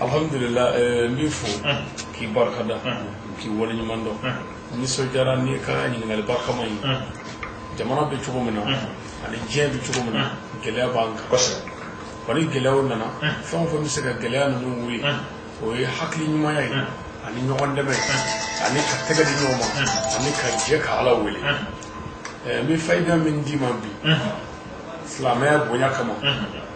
alhamdulillah n b'i fo k'i barika da k'i wale ɲuman dɔn n nisɔndiyara n'i ka ɲininkali barikama ye jamana bɛ cogo min na ani diɲɛ bɛ cogo min na gɛlɛya b'an kan kosɛbɛ wa ni gɛlɛyaw nana fɛn o fɛn bɛ se ka gɛlɛya ninnu wuli o ye hakili ɲumanya ye ani ɲɔgɔn dɛmɛ ani ka tɛgɛ di ɲɔgɔn ma ani ka jɛ ka ala wele n bɛ fayida min d'i ma bi silamɛya bonya kama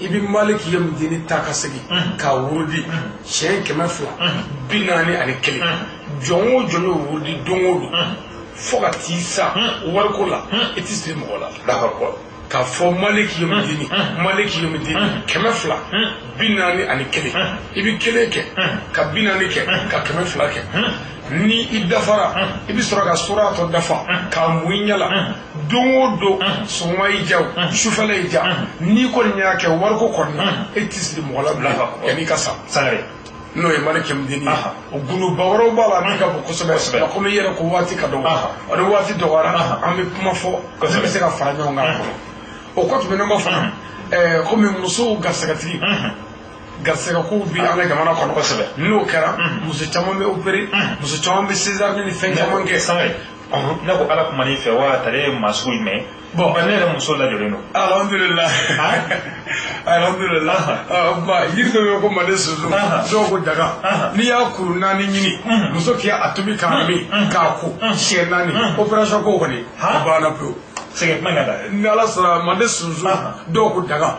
i bɛ maliki yawmiddin ta ka segin k'a wurudi siɲɛ kɛmɛ fila bi naani ani kelen jɔn o jɔn y'o wurudi don o don fo ka t'i sa wariko la i tɛ siri mɔgɔ la d'accord k'a fɔ maliki yawmiddin maliki yawmiddin kɛmɛ fila bi naani ani kelen i bɛ kelen kɛ ka bi naani kɛ ka kɛmɛ fila kɛ ni i dafara i bɛ sɔrɔ ka sura tɔ dafa k'a mun i ɲɛ la don o don sɔgɔma y'i diya o sufɛla y'i diya n'i kɔni y'a kɛ wariko kɔni na e tɛ siri mɔgɔ la bilen yanni i ka sa sangare n'o ye maliki yawmiddin ye o gundoba wɛrɛw b'a la minnu ka bon kosɛbɛ nka komi i yɛrɛ ko waati ka dɔgɔ o ni waati dɔgɔyara an bɛ kuma fɔ ne bɛ se ka fara ɲɔgɔn kan o kɔ tɛmɛnen kɔ fana komi musow garisɛgɛtigi garisɛgɛ kow bɛ an ka jamana kɔnɔ kosɛbɛ n'o kɛra muso caman bɛ opere muso caman bɛ sezari ni fɛn caman kɛ ne ko ala kumana i fɛ wa tari i ye maa sugu jumɛn bon ne yɛrɛ muso lajɔlen don alhamdulila alhamdulila ba yiri dɔ bɛ ko mande sunsun dɔw ko daga n'i y'a kuru naani ɲini muso k'a tobi k'a min k'a ko siɲɛ naani operation ko kɔni a banna pewu sɛgɛn kuma ka da ni ala sɔnna mande sunsun dɔw ko daga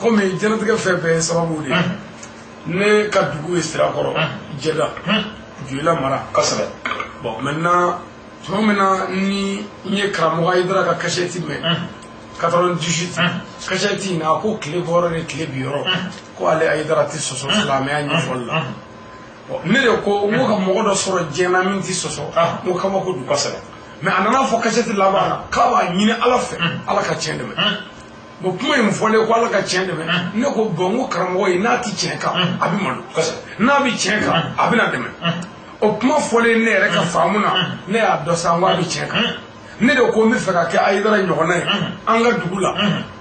kɔmi diɲɛnatigɛ fɛn bɛɛ sababu de ye ne ka dugu ye sirakɔrɔ jɛda joyila mara kosɛbɛ bon maintenant tuma min na ni n ye karamɔgɔ ayidara ka kasɛti mɛn 98 kasɛti in na a ko tile bɔyɔrɔ ni tile binyɔrɔ ko ale ayidara tɛ sɔsɔ silamɛya ɲɛfɔli la ne de ko n ko ka mɔgɔ dɔ sɔrɔ diɲɛ na min tɛ sɔsɔ n ko kabako don kosɛbɛ mɛ a nana a fɔ kasɛti laban na k'a b'a ɲini ala fɛ ala ka tiɲɛ dɛmɛ bon kuma in fɔlen ko ala ka tiɲɛ dɛmɛ ne ko bon ko karamɔgɔ in n'a tɛ tiɲɛ kan a bɛ malo n'a bɛ tiɲɛ kan a bɛna dɛmɛ o kuma fɔlen ne yɛrɛ ka faamu na ne y'a dɔn sa n ko a bɛ tiɲɛ kan ne de ko n bɛ fɛ ka kɛ ayidara ɲɔgɔnna ye an ka dugu la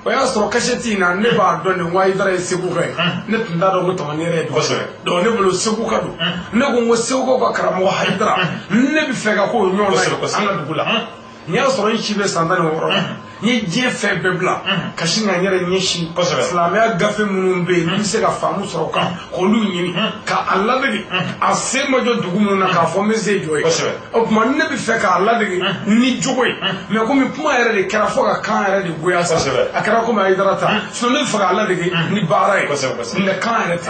o y'a sɔrɔ kasɛti in na ne b'a dɔn de ko ayidara ye seguka ye ne tun t'a dɔn ko tamani yɛrɛ ye dugu sɔrɔ donc ne bolo seguka don ne ko n ko segukaw ka karamɔgɔ ayidara ne bɛ fɛ ka k'o ɲɔgɔnna ye an ka dugu la n y'a sɔrɔ n si bɛ san tan ni wɔɔrɔ la n ye diɲɛ fɛn bɛɛ bila ka sin ka n yɛrɛ ɲɛsin Kosɛbɛ. silamɛya gafe minnu bɛ yen n bɛ se ka faamu sɔrɔ kan k'olu ɲini ka a ladege a sen ma jɔ dugu minnu na k'a fɔ n bɛ n sen jɔ yen Kosɛbɛ. o tuma ne bɛ fɛ k'a ladege ni jogo ye mɛ komi kuma yɛrɛ de kɛra fo ka kan yɛrɛ de goya sa Kosɛbɛ. a kɛra komi ayidara ta sinɔn ne bɛ fɛ k'a ladege ni baara ye Kosɛbɛ, kosɛbɛ. nka kan yɛrɛ tɛ